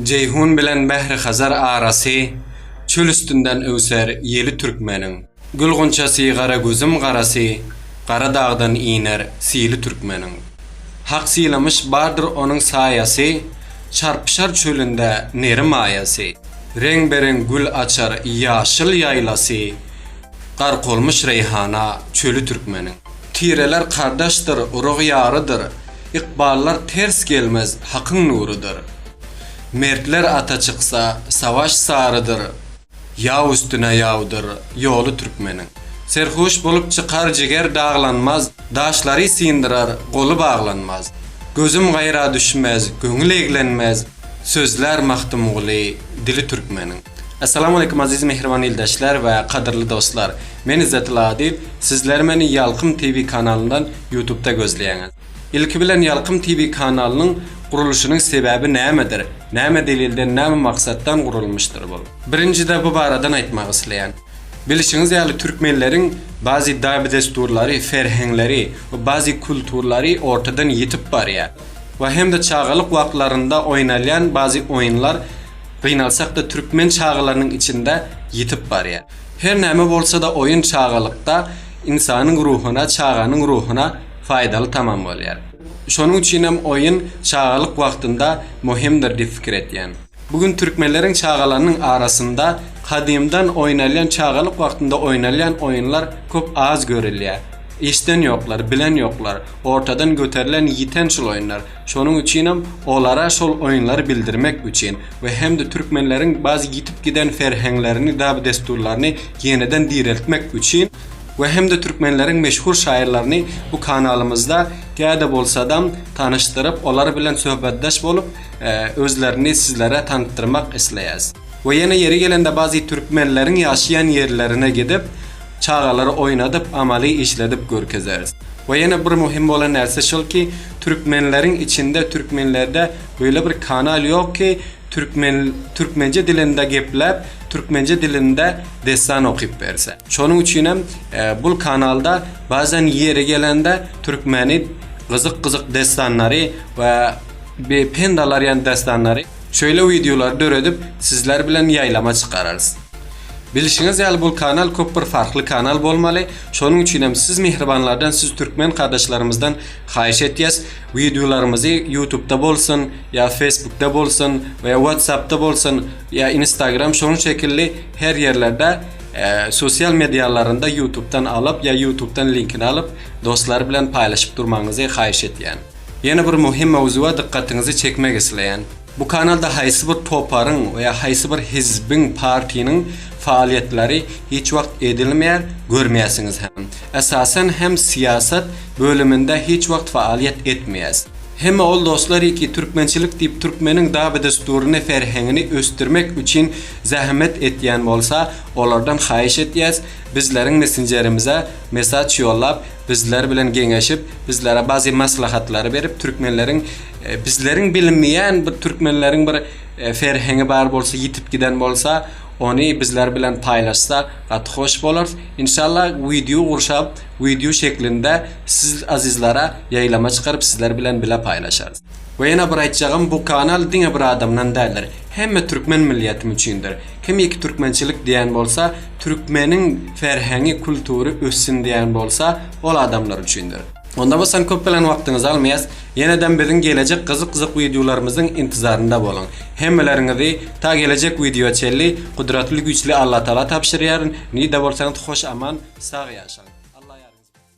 Jeýhun bilen Bährihazar arasy Çöl üstünden öwser ýeli türkmeniň. Gül gunçasy gara gözüm garasy Gara dagdan iner sili türkmeniň. Hak sylamyş bardyr onuň saýasy Çarpyşar çölünde neri maýasy. Reňbe-reň gül açar ýaşyl ýaýlasy Gark olmuş reýhana çöli türkmeniň. Tireler kardeşdir, urug ýarydyr. Ykballar ters gelmez hakyň nurudyr. Mertler ata çyksa, savaş sarydyr. Ýaw üstüne ýawdyr ýoly türkmeniň. Serhoş bolup çykar jiger daglanmaz, daşlary syndyrar goly baglanmaz. Gözüm gaýra düşmez, göňül eglenmez, Sözlär Magtymguly dili türkmeniň. Essalamu aleýkum aziz mähriban ildeşler we kadyrly dostlar! Men Izzet Lady, sizler meni Ýalkym TV kanalyndan ýutubda gözleýäňiz. Ilki bilen Ýalkym TV kanalynyň guruluşynyň sebäbi nämedir, näme delilden näme maksatdan gurulmyşdyr bul? Birinjide bu baradan aýtmak isleýän. Bilişiňiz ýaly türkmenleriň bazi dabi-dessurlary, ferheňleri we bazi kulturlary ortadan ýitip barýa. we hem-de çagalyk wagtlarynda oýnalýan bazi oýunlar gynalsak-da türkmen çagalarynyň içinde ýitip barýar. Her näme bolsa-da oýun çagalykda ynsanyň ruhuna, çaganyň ruhuna faýdaly tamam bolýar. Şonuň üçin hem oýun çagalyk wagtynda möhümdir diýip fikir etýän. Bu gün türkmenleriň çagalarynyň arasynda gadymdan oýnalýan çagalyk wagtynda oýnalýan oýunlar köp az görülýär. Eşden ýoklar, bilen ýoklar, ortadan göterilen ýiten şul oýunlar. Şonuň üçinem olara şol oýunlary bildirmek üçin we hem-de türkmenleriň baz ýitip giden serheňlerini, dab-dessurlaryny ýeneden direltmek üçin we hem-de türkmenleriň meşhur şaýyrlaryny bu kanalymyzda käde bolsadam tanyşdyryp, olar bilen söhbetdeş bolup, özlerini sizlere tanytdyrmak isleýäs. We ýene ýeri gelende bazy türkmenleriň ýaşaýan ýerlerine gidip, Çagalary oýnadyp, amaly işledip görkezeris. We ýene bir muhim bolan närse şol ki, türkmenleriň içinde, türkmenlerde böyle bir kanal ýok ki, türkmen, türkmençe dilinde gepläp, türkmençe dilinde dessan okyp berse. Şonuň üçin hem bul kanalda bazan ýeri gelende türkmeni gyzyk-gyzyk dessanlary we be pend alarýan dessanlary, şöyle wideolary döredip sizler bilen ýaýlama çykararys. Bilişiňiz ýaly bul kanal köp bir farkly kanal bolmaly, şonuň üçinem siz mihribanlardan siz türkmen gardaşlarymyzdan haýyş etýäs wideolarymyzy ýutubda bolsun ýa fesbukda bolsun we watsapda bolsun ýa instagram şonuň şekilli her ýerlerde sosial medialarynda ýutubdan alyp ýa ýutubdan linkini alyp dostlar bilen paýlaşyp durmagyňyzy haýyş etýän. Ýene bir muhim mowzuga dykgatyňyzy çekmek isleýän. Bu kanalda haýsy bir toparyň we haýsy bir hizbiň, partiniň faaliýetleri hiç wagt edilmär, görmäsiňiz hem. Esasan hem syýasat bölüminde hiç wagt faaliýet etmeýäs. Hemme ol doslary ki türkmençilik diýip türkmeniň daby-dessuryny, ferhengini ösdürmek üçin zähmet etýän bolsa olardan haýyş etýäs bizleriň messenjerimize mesaç ýollap, Bizler bilen geňeşip, bizlere bazi maslahatlary berip, türkmenleriň bizleriň bilinmeýän bir türkmenleriň bir ferhengi bar bolsa, ýitip giden bolsa, ony bizler bilen paýlaşsa gaty hoş bolarys. Inşallah wideo gurşap, wideo şeklinde siz azizlere ýaýlama çykaryp, sizler bilen bile paýlaşarys. We ýene bir aýtjagym bu kanal diňe bir adamdan däldir hemme türkmen milliýetim üçindir kimiki türkmençilik diýen bolsa türkmeniň ferheňi kultury össin diýen bolsa ol adamlar üçindir. Onda bolsan köp bilen wagtyňyzy almaýas ýenedem biziň gelejek gyzyk gyzyk wideolarymyzyň intizarynda boluň hemmeleriňizi ta gelejek wideo çenli gudratly güýçli Allatagala tabşyrýaryn nirde bolsaňyz hoş aman sag ýaşaň Alla ýaryňyz bolsun.